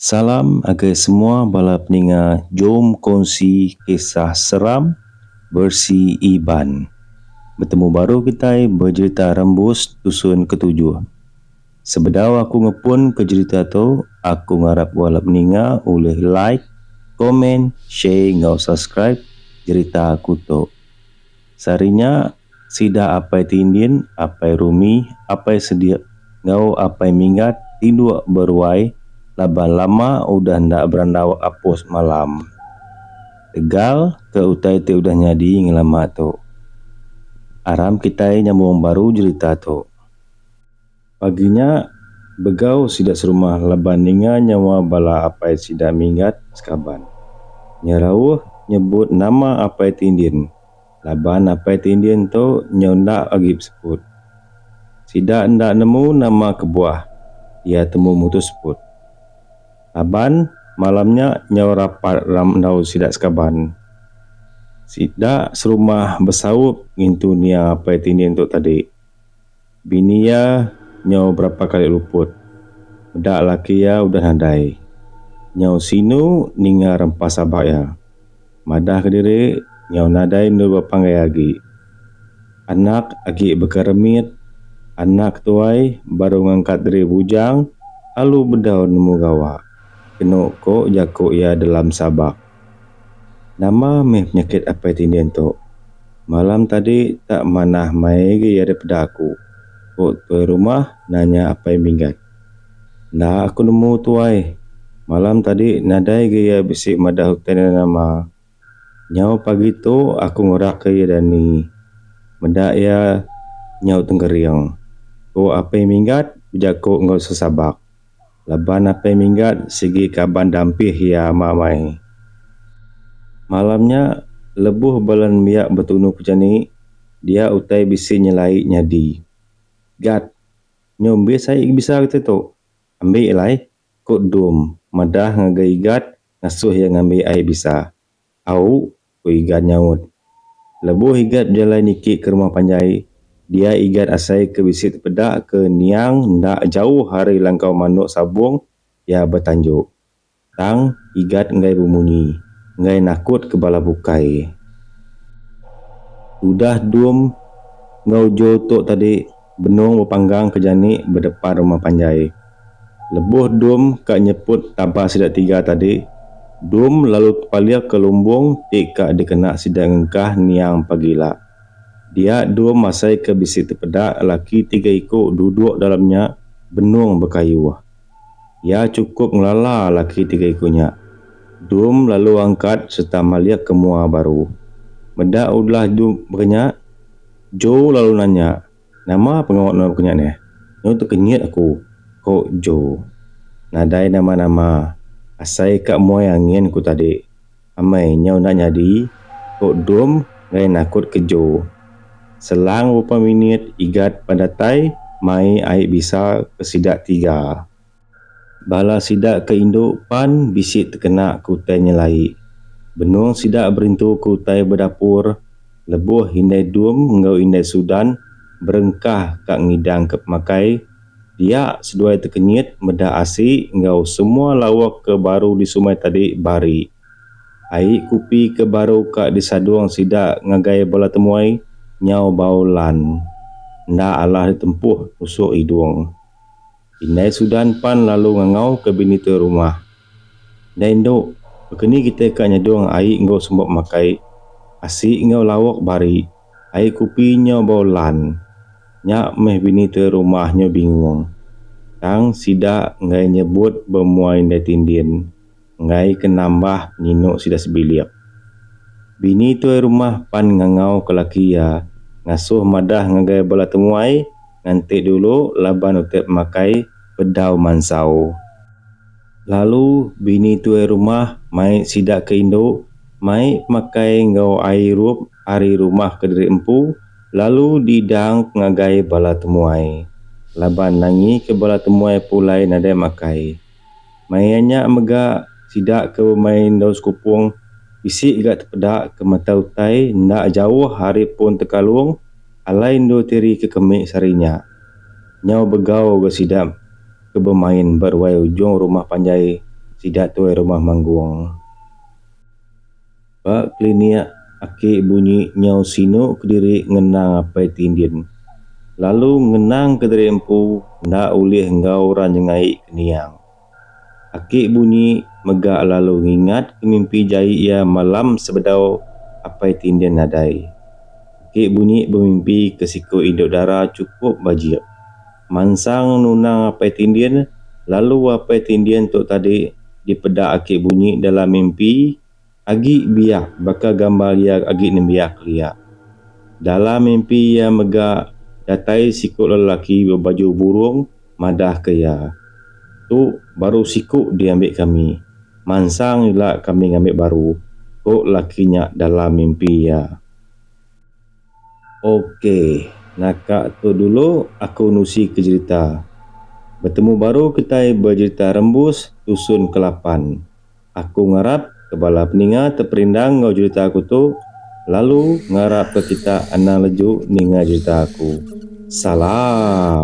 Salam agei semua bala peninga jom kongsi kisah seram versi Iban. Betemu baru kitai bejerita rembus dusun ketujuh. Sebedau aku ngepunka jerita tu, aku ngarap bala peninga ulih like, komen, share enggau subscribe jerita aku tu. Sehari nya, sida Apai Tindin, Apai Rumi, Apai Sedik enggau Apai Minggat tinduk beruai laban lama udah enda berandau apus malam. Tegal ke utai ti udah nyadi ngelama tu. Aram kitai nyambung baru jerita tu. Pagi nya, begau sida serumah laban ninga nyawa bala apai sida minggat sekaban. Nya rauh nyebut nama Apai Tindin laban Apai Tindin tu nyau enda agi beseput. Sida enda nemu nama kebuah iya temu mutus seput. Laban, malam nya nyau rapat ram enggau sida sekaban. Sida serumah besaup ngintu nia Apai Tindin tu tadi. Bini iya nyau berapa kali luput. Meda laki iya udah nadai. Nyau sinu ninga rempa sabak iya. Madah kediri nyau nadai endur bepanggai agi. Anak agi baka remit, anak tuai baru ngangkat diri bujang lalu bedau nemu gawa, kenu ko jaku iya dalam sabak. Nama meh penyakit apai tindih ento. Malam tadi tak manah mai agi iya deh peda aku, ku tuai rumah nanya apai minggat. Enda aku nemu tuai, malam tadi nadai agi iya bisi madah utai enda nama. Nyau pagi tu aku ngerak ka iya dani meda iya nyau tengkering, ku apai minggat bejaku enggau sesabak. Laban apai minggat sigi kaban dampih iya ama mai. Malam nya, lebuh bala nembiak betunu pejani, dia utai bisi nyelai nyadi. Gat, nyu mbis ai bisa kitai tu. Ambi alai, ku Dum madah ngagai Gat ngasuh iya ngambi ai bisa. Au, Ku Igat nyaut. Lebuh Igat bejalai niki ke rumah panjai, dia Igat asai ke bisi tepeda ke niang enda jauh ari langkau manuk sabung iya betanjuk. Tang, Igat enggai bemunyi, enggai nakut ke bala bukai. Tudah Dum enggau Jo tu tadi. Benung bepanggang ke jani bedepan rumah panjai. Lebuh Dum ka nyeput tabar sida tiga tadi, Dum lalu tepalih ke lumbung ti ka dikena sida ngengkah niang pagi ila. Dia Dum masai ke bisi tepeda laki tiga iku duduk dalam nya, Benung bekayuh. Iya chukup ngelala laki tiga iku nya. Dum lalu angkat sereta malik ke mua baru. Meda ulah Dum baka nya, Joe lalu nanya, Nama pengawa nuan baka nya neh? Nyu tekenyit aku, ko Joe. Nadai nama-nama. Asai ka muai angin ku tadi. Amai nyau enda nyadi, ku Dum enggai nakut kejo. Selang beberapa minit Igat pan datai mai ai bisa ke sida tiga. Bala sida ke indu pan bisi tekena ke utai nyelai. Benung sida berintu ke utai ba dapur lebuh Indai Dum enggau Indai Sudan berengkah ka ngidangka pemakai, Dia seduai tekenyit meda asi enggau semua lawok ke baru disumai tadi bari. Ai kupi ke baru ka disadung sida ngagai bala temuai nyau bau lan enda alah ditempuh nusuh idung. Indai Sudan pan lalu ngangau ke bini tu rumah. Indai endu, bekeni kitai ka nyedung ai enggau semba makai asi enggau lawok bari. Ai kupi nya bau lan. Nya meh bini tua rumah nya bingung. Tang sida enggai nyebut bemuai indai tindin enggai ke nambah penyinu sida sebilik. Bini tuai rumah pan ngangau ke laki iya ngasuh madah ngagai bala temuai nganti dulu laban utai makai bedau mansau. Lalu bini tuai rumah mai sida ke indu mai makai enggau ai irup. ari rumah kediri empu lalu diidang ngagai bala temuai laban nangika bala temuai pulai nadai makai. Maya nya mega sida ke bemain daun sekupung bisi ga tepeda ke mata utai enda jauh ari pun tekalung alai endur tiri ke kemi sehari nya. Nyau begau ga sida ke bemain ba ruai ujung rumah panjai sida tuai rumah manggung. Ba klinik, aki bunyi nyau sinu kediri ngenang apai ti ndin, lalu ngenang kediri empu enda ulih enggau orang nyengai ke niang. Aki bunyi mega lalu ngingat ke mimpi jai iya malam sebedau apai ti ndin nadai. Aki bunyi bemimpi ke siku indu dara chukup bajik mansang nunang apai ti ndin, lalu apai ti ndin tu tadi dipeda aki bunyi dalam mimpi. Agi biak baka gambar iya agi nembiak kelia. Dalam mimpi iya mega datai siku lelaki bebaju burung madah ke iya, Tu baru siku diambi kami. Mansang ila kami ngambi baru, ko lelaki nya dalam mimpi iya. Ok naka tu dulu aku nusi ke jerita. Betemu baru kitai bejerita rembus tusun ke lapan. Aku ngarap ke bala peninga te perindang enggau jerita aku tu lalu ngarap ke kita anang leju ninga jerita aku. Salam.